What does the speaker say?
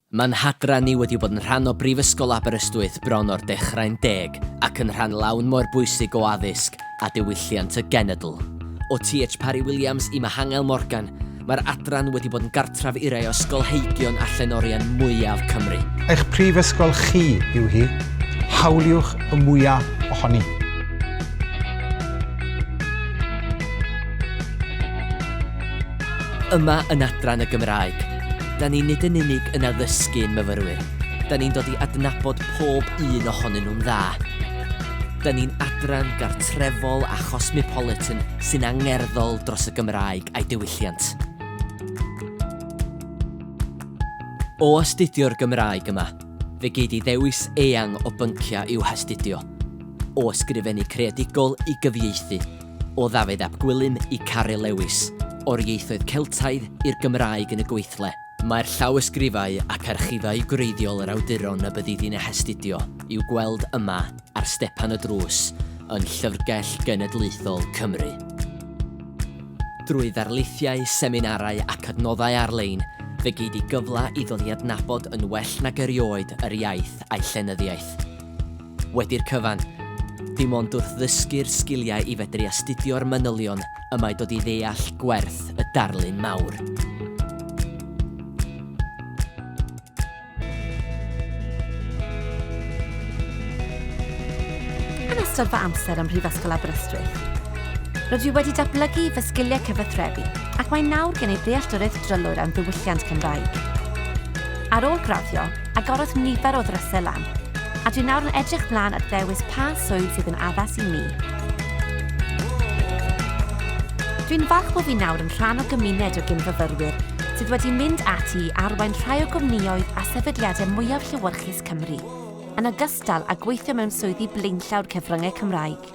Mae Nhadran ni wedi bod yn rhan o Brifysgol Aberystwyth bron o'r dechrau'n deg ac yn rhan lawn moer bwysig o addysg a diwylliant y genedl. O TH Parry Williams i Mihangel Morgan, mae'r Adran wedi bod yn gartref i rai o ysgolheigion a llenorion mwyaf Cymru. Eich prifysgol chi yw hi, hawliwch y mwyaf ohoni. Yma yn Adran y Gymraeg, Da ni nid yn unig yn addysgu ein myfyrwyr, da ni'n dod i adnabod pob un ohonyn nhw'n dda. Da ni'n adran gartrefol a chosmopolitan sy'n angerddol dros y Gymraeg a'i diwylliant. O astudio'r Gymraeg yma, fe gei di ddewis eang o bynciau i'w hastudio, o ysgrifennu creadigol i gyfieithu, O Ddafydd ap Gwilym i Caryl Lewis, o'r ieithoedd Celtaidd i'r Gymraeg yn y gweithle, mae'r llawysgrifau ac archifau gwreiddiol yr awduron y byddidi'n eu hastudio i'w gweld yma ar stepan y drws yn Llyfrgell Genedlaethol Cymru. Drwy ddarlithiau, seminarau ac adnoddau ar-lein, fe gei di gyfle i ddod i adnabod yn well nag erioed yr iaith a'i llenyddiaeth. Wedi'r cyfan, dim ond wrth ddysgu'r sgiliau i fedru astudio'r manylion y mae dod i ddeall gwerth y darlun mawr. Yn ystod fy amser ym Mhrifysgol Aberystwyth, rydw i wedi datblygu fy sgiliau cyfathrebu ac mae nawr gen i ddealltwriaeth drylwyr am ddiwylliant Cymraeg. Ar ôl graddio, Agorodd nifer o ddrysau lan, a dwi nawr yn edrych mlaen at ddewis pa swydd sydd yn addas i mi. Dwi'n falch bod fi nawr yn rhan o gymuned o gyn-fyfyrwyr sydd wedi mynd ati i arwain rhai o gwmnïoedd a sefydliadau mwyaf llewyrchus Cymru, yn ogystal â gweithio mewn swyddi blaenllaw'r cyfryngau Cymraeg.